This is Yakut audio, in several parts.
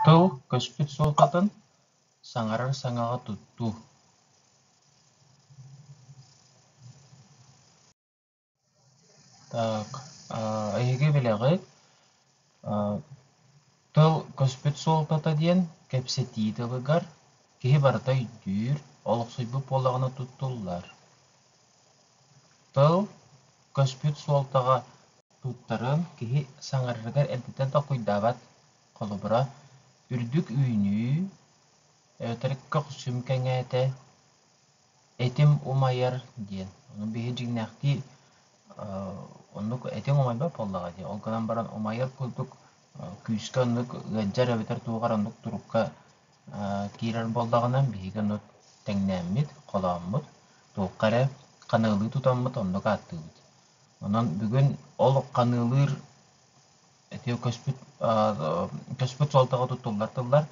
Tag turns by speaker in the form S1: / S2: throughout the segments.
S1: Тыл көспүт суолтатын саҥарар саҥаҕа туттуу Так, эһиги билэҕит Тыл көспүт суолтата диэн, кэпсэтии тылыгар киһи барыта өйдүүр, олохсуйбут буолаҕына туттуллар. Тыл көспүт суолтаҕа туттарын киһи саҥарарыгар эрдэтэн толкуйдаабат холобура үрдүк үүнүү, өтөркөх сүм кэҥээтэ, этим умайар диэн. Ону биһи дьиҥнээхтии оннук этиҥ умайбат буоллаҕа дии. Ол гынан баран умайар курдук күүскэ оннук ыалдьар эбэтэр туох эрэ оннук турукка киирэр буоллаҕына биһиги ону тэҥнээммит, холооммут, туохха эрэ ханыылыы тутаммыт, оннук ааттыыбыт. Онон бүгүн ол ханыылыыр этиэ көспүт көспүт суолтаҕа туттуллар тыллар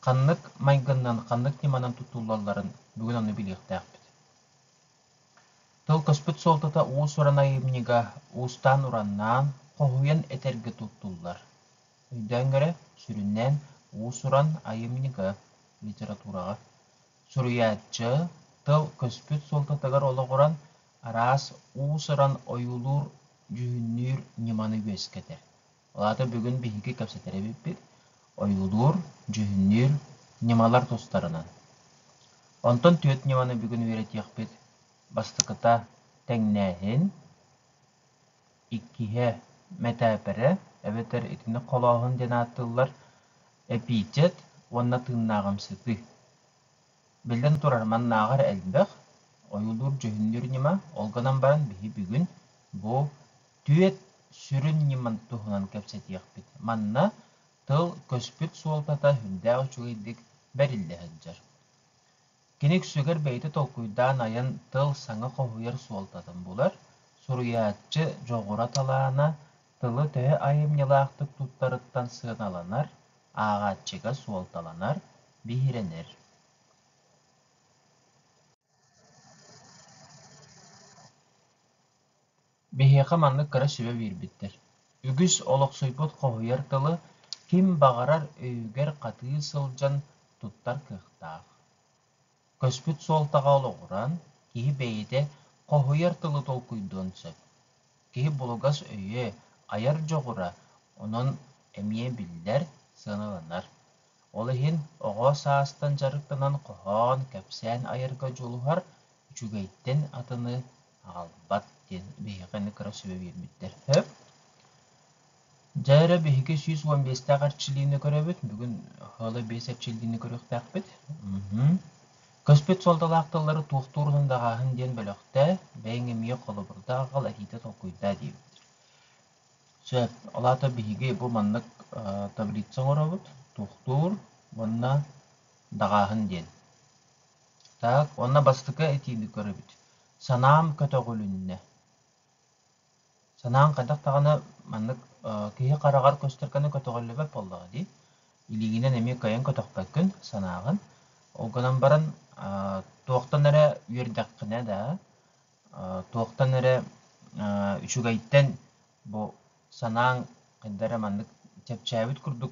S1: Ханнык майгыннан, ханнык ньыманан туттуллалларын бүгүн ону билиэхтээхпит. Тыл көспүт суолтата уус-уран айымньыга уустаан-ураннаан, хоһуйан этэргэ туттуллар. Өйдөөн көрө, сүрүннээн уус-уран айымньыга, литератураҕа. Суруйааччы тыл көспүт суолтатыгар олоҕуран, араас уус-уран ойуулуур, дьүһүннүүр ньыманы үөскэтэр. Ол аата бүгүн биһиги кэпсэтэр эбиппит ойуулуур, дьүһүннүүр ньымалар тустарынан. Онтон түөрт ньыманы бүгүн үөрэтиэхпит бастакыта тэҥнээһин, иккиһэ мэтээпэрэ эбэтэр итини холооһун диэн ааттыыллар эпичэт уонна тыыннааҕымсытыы. Биллэн турар, маннааҕы эрэ элбэх, ойуулуур-дьүһүннүүр ньыма, ол гынан баран биһи бүгүн бу түөрт сүрүн ньыманы туһунан кэпсэтиэхпит. Манна тыл, көспүт суолтата үрдээх үчүгэйдик бэриллэ сылдьар. Кини үксүгэр бэйэтэ толкуйдаан айан тыл саҥа хоһуйар суолтатын булар, суруйааччы дьоҕура талаана, тылы төһө айымньылаахтык туттарыттан сыаналанар, ааҕааччыга суолталанар, биһирэнэр. Биһиэхэ маннык кыра сүбэ биэрбиттэр. Үгүс олохсуйбут хоһуйар тылы ким баҕарар өйүгэр хатыы сылдьан туттар кыахтаах. Көспүт суолтаҕа олоҕуран, киһи бэйэтэ хоһуйар тылы толкуйдуон сөп. Киһи булугас өйө, айар дьоҕура онон эмиэ биллэр, сыаналанар. Ол иһин оҕо саастан дьарыктанан хоһоон, кэпсээн айарга дьулуһар, үчүгэйтэн атыны аҕалбат диэн биһиэхэ кыра сүбэ биэрбиттэр. Сөп? Дьэ эрэ биһиги сүүс уон биэстээх эрчиллиини көрөбүт. Бүгүн ыла биэс эрчиллиини көрүөхтээхпит. Көспүт суолталаах тыллары туохтуур уһун даҕааһын диэн бөлөхтөө, бэйэҥ эмиэ холобурдаа аҕал, этиитэ толкуйдаа диэбит. Сөп. Ол аата биһиги бу маннык таблица оҥоробут, туохтуур уонна даҕааһын диэн. Так, уонна бастакы этиини көрөбүт. Санаам көтөҕүлүннэ. Санааҥ хайдах даҕаны маннык киһи хараҕар көстөркөне көтөҕүллүбэт буоллаҕа дии. Илиигинэн эмиэ кыайан көтөхпөккүн санааҕын. Ол гынан баран туохтан эрэ үөрдэххинэ да, туохтан эрэ үчүгэйтэн бу санааҥ хайда эрэ маннык чэпчээбит курдук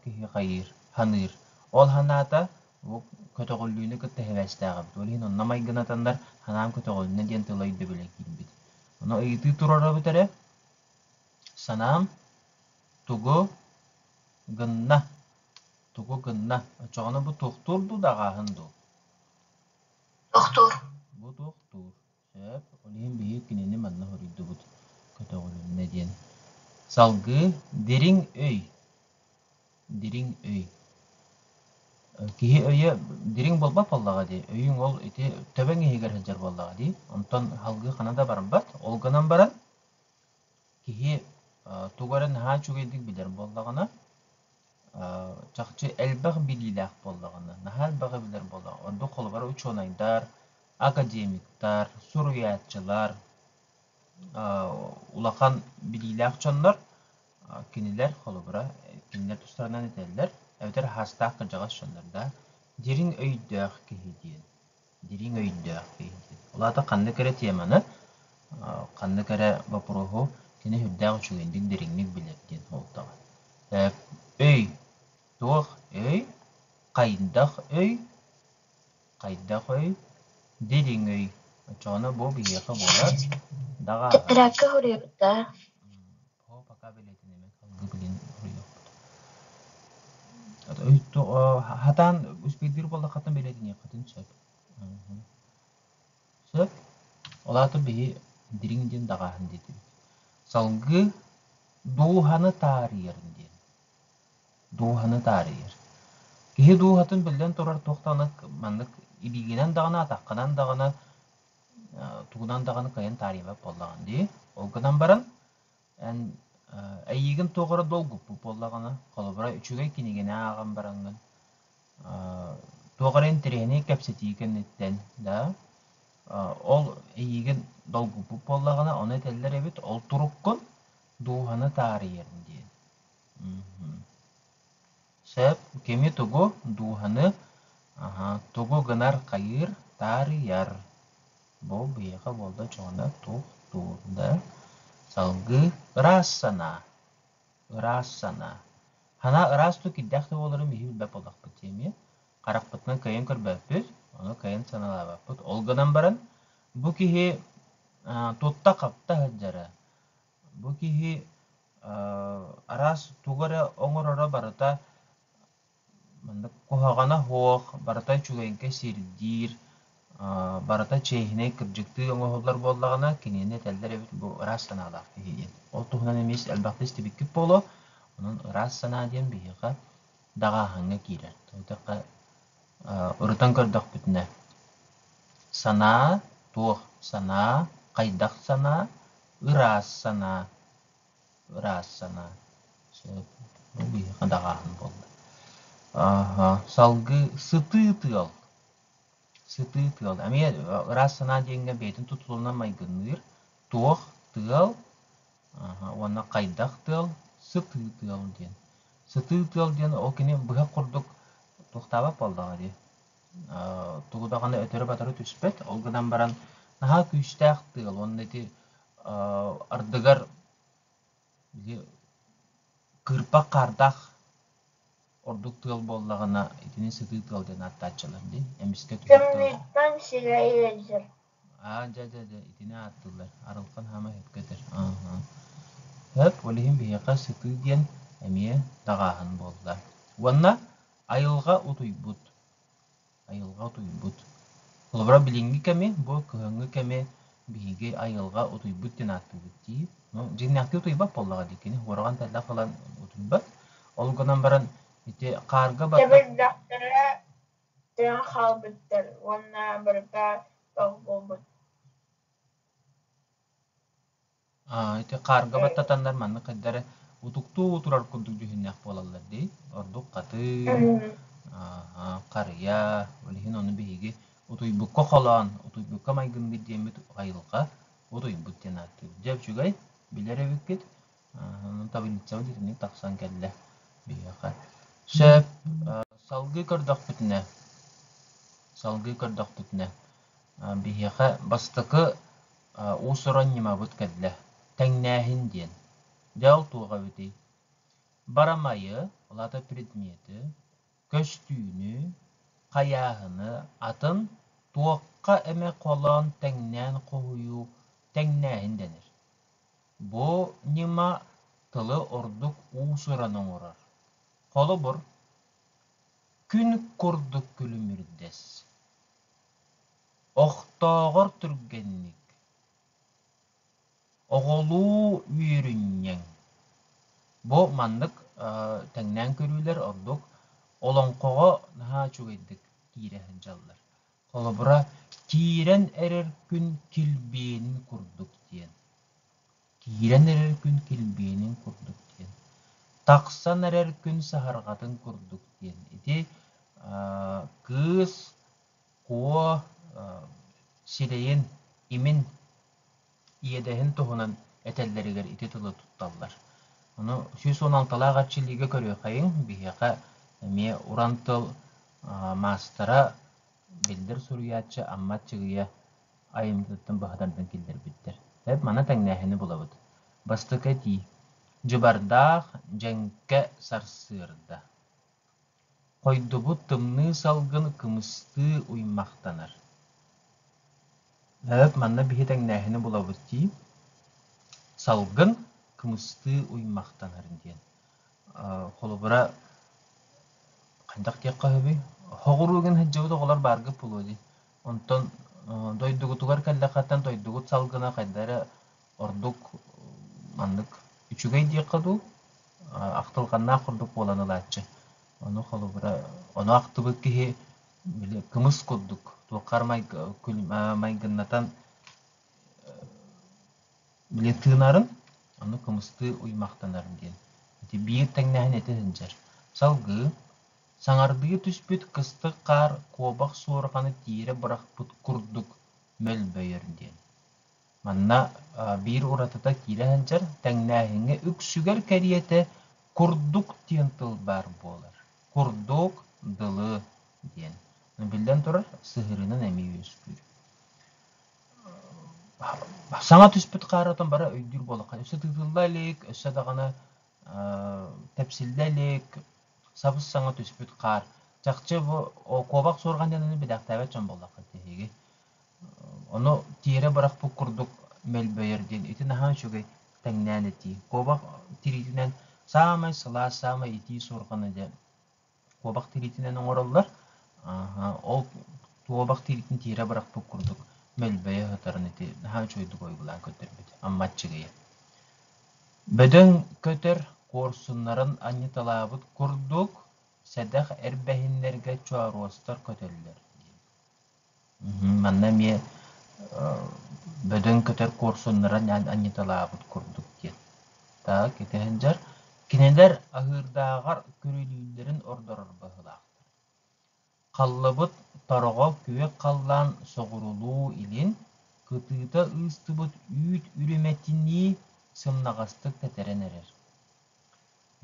S1: киһи хайыыр, саныыр. Ол санаата бу көтөҕүллүүнү кытта сибээстээх эбит. Ол иһин онно майгынатаннар санаам көтөҕүллүннэ диэн тыла өйдөбүлэ киирбит. Ону ыйытыы туруора бүтэрэ санаам тугу гынна, тугу гынна. Оччоҕуна бу тохтуур дуу, даҕааһын дуу? Тохтуур. Бу тохтуур. Сөп, ол иһин биһиги кинини манна хоруйдубут, көтөҕүлүннэ диэн. Салгыы дириҥ өй. Дириҥ өй. Киһи өйө дириҥ буолбат буоллаҕа дии. Өйүҥ ол ити төбөҥ иһигэр сылдьар буоллаҕа дии. Онтон салгыы хана да барбат. Ол гынан баран киһи тугу эрэ наһаа үчүгэйдик билэр буоллаҕына, чахчы элбэх билиилээх буоллаҕына, наһаа элбэҕи билэр буоллаҕына, ордук холобура учуонайдар, академиктар, суруйааччылар, улахан билиилээх дьоннор кинилэр холобура кинилэр тустарынан этэллэр эбэтэр аһаастаах кырдьаҕас дьоннор да дириҥ өйдөөх киһи диэн дириҥ өйдөөх киһитин. Ол аата ханнык эрэ теманы, ханнык эрэ бопуруоһу кини сүрдээх үчүгэйдик, дириҥник билэр диэн суолтаҕа. Өй, туох өй, хайдах өй, хайдах өй, дириҥ өй. Оччоҕуна бу биһиэхэ буолар даҕааһын. Ырыакка хоруйуох да Оо, пока билетинимин алгыбылин хоруйдуохпут. Хатаан успейдир боллахатын билетиниэххитин сөп. Сөп. Олаатыр биһи дириҥ диэн даҕааһын диэтибит. Салгыы дууһаны таарыйарын диэн. Дууһаны таарыйар. Киһи дууһатын биллэн турар туох маннык ибигинэн даҕана, атаххынан даҕана тугунан даҕаны кыайан таарыйбат буоллаҕын дии. Ол гынан баран эн эйиигин туох эрэ долгуппут буоллаҕына, холобура, үчүгэй кинигэни ааҕан бараҥҥын, туох эрэ интэриэһинэй кэпсэтии кэнниттэн, да, ол эйиигин долгуппут буоллаҕына, ону этэллэр эбит, ол туруккун дууһаны таарыйарым диэн. Сөп, кими тугу дууһаны тугу гынар хайыыр таарыйар. Бу биһиэхэ буолда чоҕуна туох туурда салгыы ыраас санаа. Ыраас санаа. Санаа ыраас ту кирдэх да буоларын биһи билбэт буолахпыт эмиэ. Харахпытынан кыайан көрбөппүт, ону кыайан санаалаабаппыт. Ол гынан баран, бу киһи тутта-хапта сылдьара. Бу киһи араас тугу эрэ оҥороро барыта маннык куһаҕана суох, барыта үчүгэйгэ сирдиир, барыта чиэһинэй, кырдьыктыы оҥоһуллар буоллаҕына, кинини этэллэр эбит бу ыраас санаалаах киһи диэн. Ол туһунан эмиэ элбэхтэ истибиккит буолуо. Онон ыраас санаа диэн биһиэхэ даҕааһыҥҥа киирэр. Итиэхэ ырытан көрдөхпүтүнэ, санаа туох санаа, хайдах санаа, Ыраас санаа, ыраас санаа. Бу биһиэхэ даҕааһын буолла. Аха, салгыы сытыы тыал. Сытыы тыал. Эмиэ ыраас санаа диэҥҥэ бэйэтин тутулунан майгынныыр. Туох тыал аха, уонна хайдах тыал, сытыы тыал диэн. Сытыы тыал диэн ол кини быһах курдук туохтаабат буоллаҕа дии. тугу даҕаны өтөрү-батары түспэт. Ол гынан баран наһаа күүстээх тыал уонна ити ардыгар кыырпах хаардаах ордук тыал буоллаҕына итини сытыы тыал диэн ааттааччылар дии эмискэ кэмниттэн сирэйэ дьэр аа дьэ дьэ дьэ итини ааттыыллар арылхан хаама сөпкө көтөр сөп ол иһин биһиэхэ сытыы диэн эмиэ даҕааһын буолла уонна айылҕа утуйбут айылҕа утуйбут холобура билиҥҥи кэми бу кыһыҥҥы кэми биһиги айылҕа утуйбут диэн ааттыыбыт дии ну дьиҥнээхтик утуйбат буоллаҕа дии кини уораҕан тэллэх ылан утуйбат ол гынан баран ити хаарга баттах тыаҕа хаалбыттар уонна барыта тох буолбут ити хаарга баттатаннар маннык хайдары утуктуу турар курдук дьүһүннээх буолаллар дии ордук хатыы харыйа ол иһин ону биһиги утуйбукка холоон утуйбукка майгыммыт диэммит айылҕа утуйбут диэн ааттыыбыт дьэ үчүгэй билэр эбиккит табиницабын итинник тахсан кэллэ биһиэхэ сөп салгыы көрдөхпүтүнэ салгыы көрдөхпүтүнэ биһиэхэ бастакы уус-уран ньымабыт кэллэ тэҥнээһин диэн дьэ ол туох эбитий барамайы ол аата предмети көстүүнү хайааһыны атын туохха эмэ холоон тэҥнээн хоһуйуу тэҥнээһин дэнэр Бу ньыма тылы ордук уусуран оҥорор. Холобур, күн курдук күлүмүрдэс. Охтооҕор түргэнник. Оҕолуу үөрүнньэҥ. Бу маннык тэҥнээн көрүүлэр ордук олоҥхоҕо наһаа үчүгэйдик киирэ сылдьаллар. Холобура, киирэн эрэр күн килбиэнин курдук диэн. Киирэн эрэр күн килбиэнин курдук диэн. Тахсан эрэр күн саһарҕатын курдук диэн. Ити аа, кыыс куо аа, сирэйин, имин иэдэһин туһунан этэллэригэр ити тылы тутталлар. Ону сүүс уон алталаах эрчиллиигэ көрүөххэйиҥ, биһиэхэ эмиэ уран тыл маастара, биллэр суруйааччы Аммат Чыгыйа айымньытыттан быһатардан киллэрбиттэр. Эп маны тэҥнээһини булабыт. Бастакы этии. Дьыбардаах дьэҥкэ сарсыарда. Хойдубут тымныы салгын кымыстыы уймахтанар Эбэбит манна биһи тэҥнээһини булабыт дии Салгын кымыстыы уймахтанар диэн Холобура хайдах диэххэ үһүбүй Хоҕуругун сылдьыбыт оҕолор баарга буолуо дии Онтон дойдугутугар кэллэххиттэн дойдугут салгына хайда эрэ Ордук маннык үчүгэй диэххэ дуу, ахтылҕаннаах курдук буолан ылааччы. Ону холобура, ону ахтыбыт киһи били кымыс курдук туоххар майгы, майгыннатан били тыынарын, ону кымыстыы уймахтанар диэн. Ити биир тэҥнэһин этэ сылдьар. Салгыы саҥардыы түспүт кыстык хаар куобах суорҕаны тиэрэ бырахпыт курдук мөлбөйөр диэн. Манна биир уратыта киирэ сылдьар, тэҥнээһиҥҥэ үксүгэр кэриэтэ курдук диэн тыл баар буолар. Курдук, дылы диэн. Биллэн турар, сыһыарыынан эмиэ үөскүүр. Саҥа түспүт хаарытын бары өйдүүр буоллахха, өссө тыытылла илик, өссө даҕаны тэпсиллэ илик, сабыс-саҥа түспүт хаар. Чахчы бу куобах суорҕан диэн аны билээхтээбэт дьон буоллахха, биһиги Ону тиэрэ бырахпыт курдук мөлбөйөр диэн ити наһаа үчүгэй тэҥнээн этии. Куобах тириитинэн саамай сылаас, саамай итии суорҕаны дьэ куобах тириитинэн оҥороллор. Ааһа, ол куобах тириитин тиэрэ бырахпыт курдук мөлбөйө сытарын ити наһаа үчүгэйдик ойгулаан көтөрбүт. Амма Аччыгыйа. Бөдөҥ көтөр куорсуннарын анньыталаабыт курдук, сэдэх эрбэһиннэргэ чооруостар көтөллөр. Манна эмиэ бөдөҥ көтөр куорсуннара анньыталаабыт курдук диэн. Так, ити сылдьар. Кинилэр аһыырдааҕар күрүлүүллэрин ордорор быһыылаахтар. Халлыбыт тороҕо күөх халлаан соҕурулуу илин, кытыыта ыыстыбыт үүт үрүмэтинии сымнаҕастык тэтэрэн эрэр.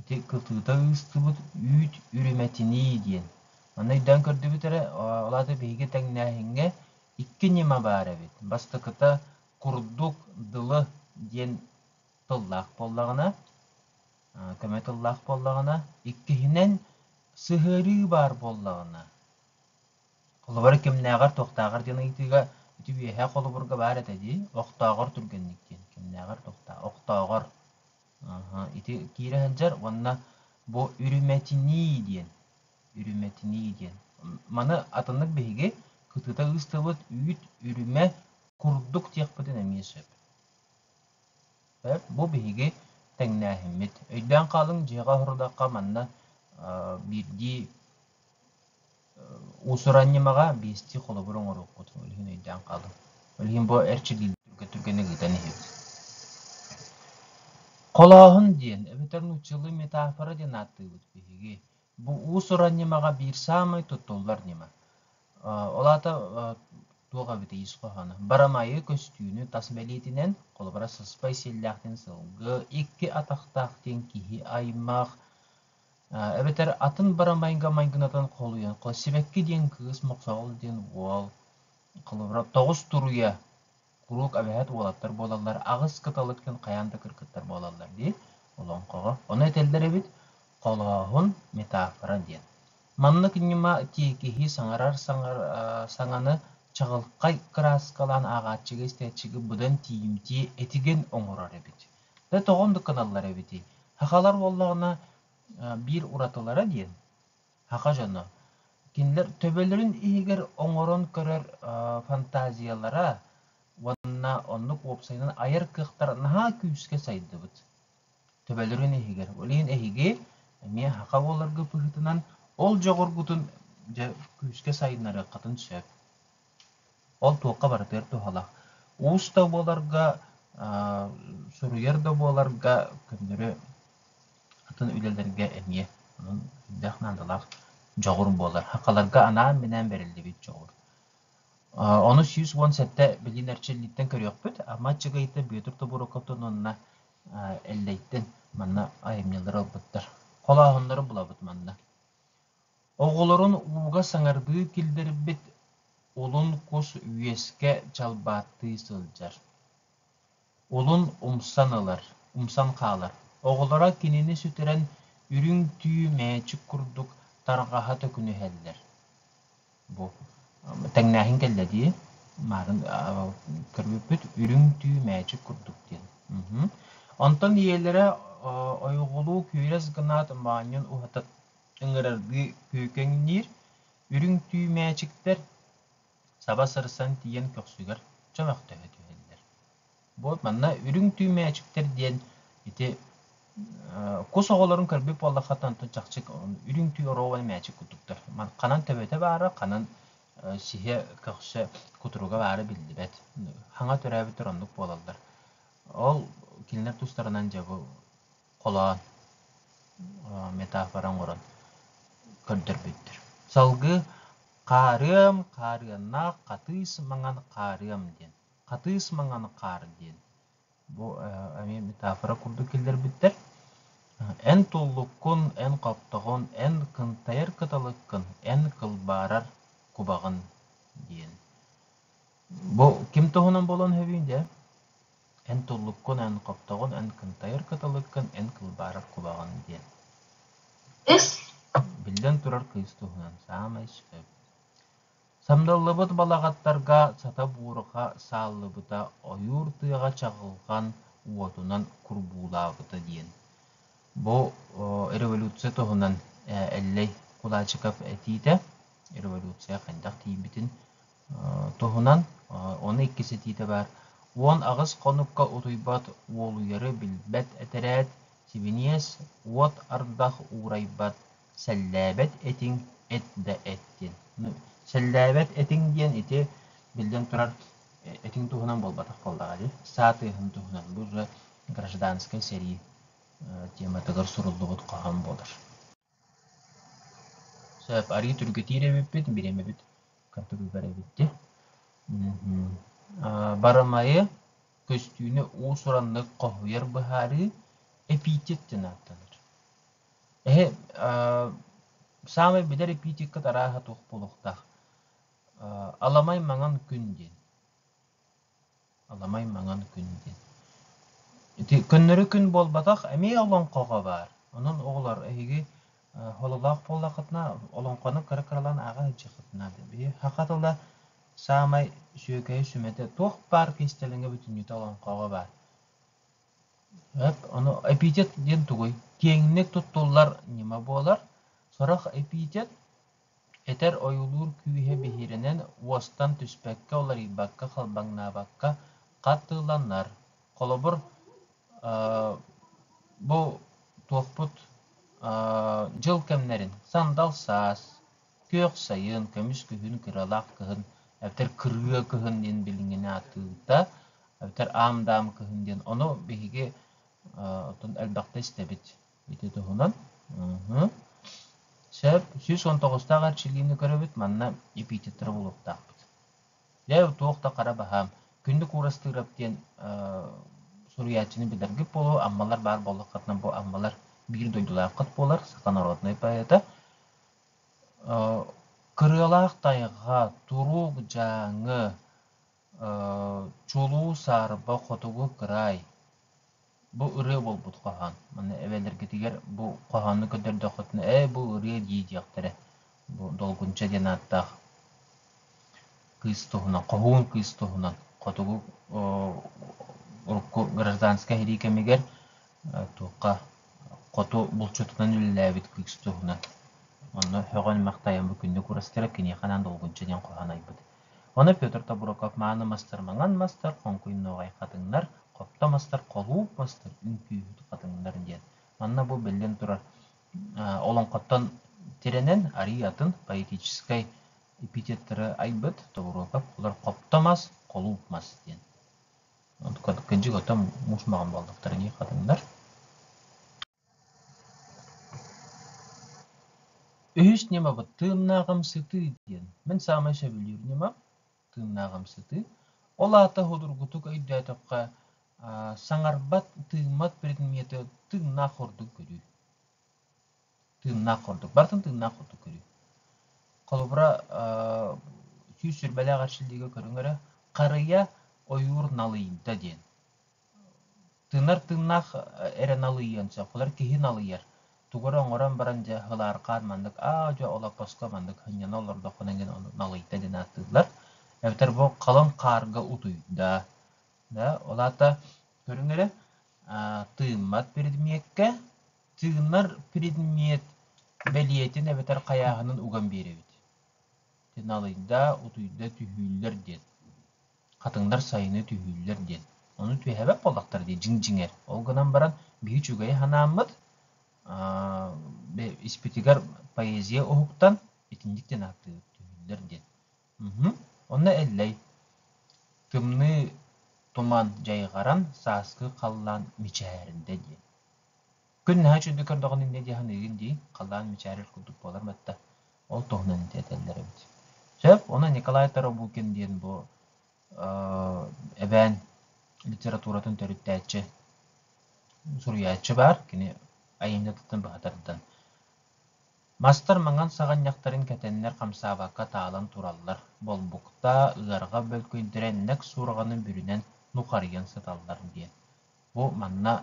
S1: Ити кытыыта ыыстыбыт үүт үрүмэтинии диэн. Манна өйдөөн көрдүбүт эрэ, ол аата биһиги тэҥнээһиҥҥэ икки ньыма баар эбит. Бастакыта курдук дылы диэн тыллаах буоллаҕына, көмө тыллаах буоллаҕына, иккиһинэн сыһыарыы баар буоллаҕына, холобура кимнээҕэр туохтааҕар диэн ыйытыыга ити үөһээ холобурга баар этэ дии, охтооҕор түргэнник диэн, кимнээҕэр туохтааҕар, охтооҕор ити киирэ сылдьар уонна бу үрүмэтинии диэн үрүмэтинии диэн маны атыннык биһиги кытыыта ыыстыбыт үүт үрүмэ курдук диэхпитин эмиэ сөп бу биһиги тэҥнээһиммит өйдөөн хаалыҥ дьиэҕэ оһорудахха манна биирдии Уусуран ньымаҕа биэстии холобур оҥоруохпутун үлэһин өйдөөн хаалыҥ. Үлэһин бу эрчиллиилэрин түргэн-түргэнник ыытан иһибит. Холооһун диэн эбэтэр нууччалыы метафора диэн ааттыыбыт биһиги. Бу уус-уран ньымаҕа биир саамай туттуллар ньыма. Ол аата туох эбитий ис хоһооно? Барамайы көстүүнү тас бэлиэтинэн, холобура, сыспай сиэллээхтин сылгы, икки атахтаах диэн киһи аймах, эбэтэр атын барамайга майгынатан холуйан сибэкки диэн кыыс мохсоҕол диэн уол холобура тоҕус туруйа куруук абэһэт уолаттар буолаллар аҕыс кыталык дьон хайаан да кыргыттар буолаллар дии олоҥхоҕо ону этэллэр эбит холооһун метафора диэн маннык ньыма тиэкиһи саҥарар саҥар саҥаны чаҕылхай кырааскалаан ааҕааччыга истээччигэ быдан тиийимтиэ этигэн оҥорор эбит Дьэ, тоҕон да гыналлар эбитий? Сахалар буоллаҕына, биир уратылара диэн, саха дьоно, кинилэр төбөлөрүн иһигэр оҥорон көрөр фантазиялара уонна оннук уопсайынан айар кыахтара наһаа күүскэ сайдыбыт. Төбөлөрүн иһигэр. Билигин эһиги эмиэ саха буоларга быһыытынан ол дьоҕургутун дьэ күүскэ сайыннарыаххытын сөп. Ол туохха барытыгар туһалаах. Уус да буоларга, суруйар да буоларга көннөрү атын үлэлэргэ эмиэ онон сүрдээх наадалаах дьоҕур буолар. Хакаларга анаан-минээн бэриллибит дьоҕур. Ону сүүс уон сэттэ билин эрчиллииттэн көрүөхпүт. Ама Чыгыйыта Бүөтүр Тобуруокатын уонна Эллэйтин манна айымньылары ылбыттар. Холооһуннары булабыт манна. Оҕолорун ууга саҥардыы киллэрбит улун кус үөскэ чалбааттыы сылдьар. Улун умсан ылар, умсан хаалар. Оҕолоро кинини сүтэрэн үрүҥ түү мээчик курдук тарҕаһа төкүнүһэллэр. Бу тэҥнээһин кэллэ дии. Маарын көрбүппүт үрүҥ түү мээчик курдук диэн. Онтон ийэлэрэ ойоҕолуу күүрэс гынаат моонньун уһата ыҥырардыы күүкэҥниир үрүҥ түү мээчиктэр саба сырсан тиийэн көхсүгэр чөмөхтөһө түһэллэр. Буот манна үрүҥ түү мээчиктэр диэн ити кус оҕолорун көрбүт буоллаххытына онтон чахчык үрүҥ түү оруобай мээчик курдуктар. Ханан төбөтө баара, ханан сиһэ көхсө кутуруга баара биллибэт. Хаҥа төрөөбүттэр оннук буолаллар. Ол кинилэр тустарынан дьэ бу холоон метафора оҥорон көрдөрбүттэр. Салгыы хаарыам, хаарыаннаах, хатыыс маҥан хаарыам диэн. Хатыыс маҥан хаар диэн. Бу эмиэ метафора курдук киллэрбиттэр. Эн туллуккун, эн хоптоҕун, эн кынтайар кыталыккын, эн кылбаарар кубаҕын диэн. Бу ким туһунан буолуон сөбүй дэ эн туллуккун, эн хоптоҕун, эн кынтайар кыталыккын, эн кылбаарар кубаҕан диэн. Ис Биллэн турар кыыс туһунан саамай сөп. Самдаллыбыт балаҕаттарга сата буурҕа сааллыбыта, ойуур тыаҕа чаҕылҕан уотунан курбуулаабыта диэн. Бу революция туһунан Эллэй Кулачиков этиитэ, революция хайдах тиийбитин туһунан ону икки ситиитэ баар уон аҕыс хонукка утуйбат уолуйары билбэт этэрээт сибиниэс уот ардах уурайбат сэллээбэт этиҥ эт да эттин сэллээбэт этиҥ диэн ити биллэн турар этиҥ туһунан буолбатах буоллаҕа дии саатыһын туһунан бу уже гражданскай сэрии тематыгар суруллубут хоһоон буолар Сөп, арыы түргэтиир эбиппит, бириэмэбит кырдыгыгар эбит дии. Барамайы, көстүүнү уус-ураннык хоһуйар быһаарыы эпитет диэн ааттанар. Эһэ, саамай билэр эпитеккыт арааһа туох буолуохтаах? Аламай маҥан күн диэн. Аламай маҥан күн диэн. Ити көннөрү күн буолбатах, эмиэ олоҥхоҕо баар. Онон оҕолор эһиги хололоох буоллаххытына, олоҥхону кыра-кыралаан ааҕа сылдьыаххытына диэн. Били саха тыла саамай үчүгэйэ, сүмэтэ туох баар кистэлэҥэ бүтүннүүтэ олоҥхоҕо баар. Эт, ону эпитет диэн тугуй? Киэҥник туттуллар ньыма буолар. Сорох эпитет этэр ойуулуур күүһэ биһирэнэн уостан түспэккэ уларыйбакка халбаҥнаабакка хатыланар холобур бу туохпут дьыл кэмнэрин сандал саас күөх сайын көмүс күһүн кыралаах кыһын эбэтэр кырыа кыһын диэн билиҥҥини атыыта эбэтэр аам даам кыһын диэн ону биһиги отун элбэхтэ истэбит Ити туһунан Сөп сүүс уон тоҕустаах эрчиллиини көрөбүт, манна эпитеттары булуохтаахпыт. Дьэ, туох да хара баһаам. Күндү Куурастыырап диэн суруйааччыны билэргит буолуо, аммалар баар буоллаххытына бу аммалар биир дойдулааххыт буолар, саха норуотунай поэта. Кырыалаах тайҕа, турук Дьааҥы, Чулуу, саарба, хотугу, кыраай бу ырыа буолбут хоһоон. Манна эбэлэргитигэр бу хоһоону көрдөрдөххүтүнэ «Ээ, бу ырыа дии» диэхтэрэ. Бу Долгунча диэн ааттаах кыыс туһунан, хоһуун кыыс туһунан хотугу урукку гражданскай иһирии кэмигэр туохха хоту булчутунан үлэлээбит кыыс туһунан. Онно «Хөҕөн-махтайан бу күннүк урастыра» киниэхэ анаан «Долгунча» диэн хоһоон айбыт. Ону Петр Тобуруков мааны мастар маҥан мастар, хоҥкуйнуоҕай хатыҥнар, хопто мастар, холууп мастар, үҥкүүһүт хатыҥнар диэн. Манна бу биллэн турар олоҥхоттон тирэнэн арыый атын поэтическай эпитеттары айбыт Тобуруокап. Олор хопто мас, холууп мас диэн. Кырдьык оттон муус маҕан буоллахтарыныы хатыҥнар. Үһүс ньымабыт «Тыыннааҕым сытыы» диэн. Мин саамай сөбүлүүр ньымам – «Тыыннааҕым сытыы». Ол аата судургутук өйдөөтөххө, аа, саҥарбат, тыыммат предмети тыыннаах ордук көрүү. Тыыннаах ордук. Барытын тыыннаах ордук көрүү. Холобура, аа, сүүс сүрбэлээх эрчиллиигэ көрүҥ эрэ, «Харыйа ойуур налыйда» диэн. Тыынар тыыннаах эрэ налыйыан сөп. Холер киһи налыйар. Тугу эрэ оҥорон баран дьэ ылаархаан маннык аа дьэ олоппоско маннык ханньана олордоххуна иҥин ону налыйда гын ааттыыллар. Эбэтэр бу халыҥ хаарга утуйда. Да, ол аата көрүҥ эрэ тыыммат предмеккэ тыынар предмет бэлиэтин эбэтэр хайааһынын уган биэрэбит. Налыйда, утуйда түһүүллэр диэн. Хатыҥдар сайыны түһүүллэр диэн. Ону түһээбэт буоллахтар дии, дьиҥ-дьиҥэр. Ол гынан баран, биһиги үчүгэйи санааммыт, испитигэр поэзия уһуктан, итинник диэн ааттыыр, түһүүллэр диэн. Онно Эллэй тымныы туман дьайҕаран, сааскы халлаан мичээрдэ диэн. Күн наһаа үчүгэй көрдөҕүн инньэ дии саныыгын дии, халлаан мичээрэр курдук буолан батта. Ол туһунан этэллэр эбит. Сөп, онон Николай Торобукин диэн бу э, эбээн литературатын төрүттээччи, суруйааччы баар, кини айымньытыттан быһатардан. Мастар маҥан саҕанньахтарын кэтэннэр хамсаабакка таалан тураллар, болбукта, ыарҕа бөлкүйдэрэ нэк суурҕаны бүрүнэн нухарыйан сыталлар диэн. Бу манна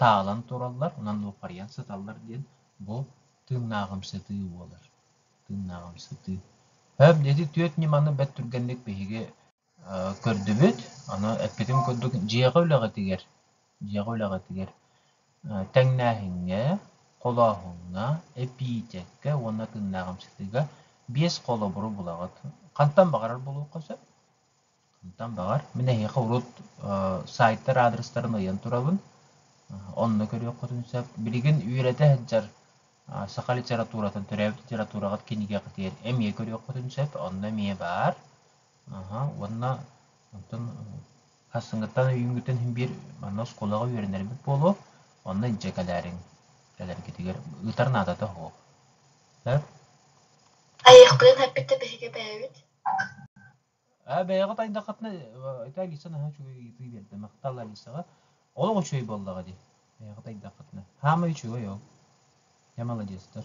S1: таалан тураллар, онон луоппарыйан сыталлар диэн бу тыыннааҕымсытыы буолар. Тыыннааҕымсытыы. Өп дьэти түөрт ньыманы бэрт түргэнник биһиги көрдүбүт. Аны эппитим курдук, дьиэҕэ үлэҕитигэр, дьиэҕэ үлэҕитигэр тэҥнээһиҥҥэ, холооһуҥҥа, эпиитэккэ уонна тыыннааҕымсытыыга биэс холобуру булаҕыт. Хантан баҕарар булуохха сөп. Онтон баҕар, мин эһиэхэ урут саайтар аадырыстарын ыйан турабын, онно көрүөххүтүн сөп. Билигин үөрэтэ сылдьар саха литературатын, төрөөбүт литератураҕыт кинигэҕитигэр эмиэ көрүөххүтүн сөп, онно эмиэ баар. Уонна онтон сарсыҥҥыттан үйүҥҥүтэн син биир манна оскуолаҕа үөрэнэрбит буолуо, онно илдьэ кэлээриҥ, кэлэргитигэр ыытар наадата суох. Сөп? Айыахпытын эппит да биһиги бэйэбит Э, бэйэҕит айдаххытына итаа гисан аһа үчүгэй ыйытыы биэрдэ махтал Алисаҕа олох үчүгэй буоллаҕа дии бэйэҕит айдаххытына хаама үчүгэй ол я молодец-тар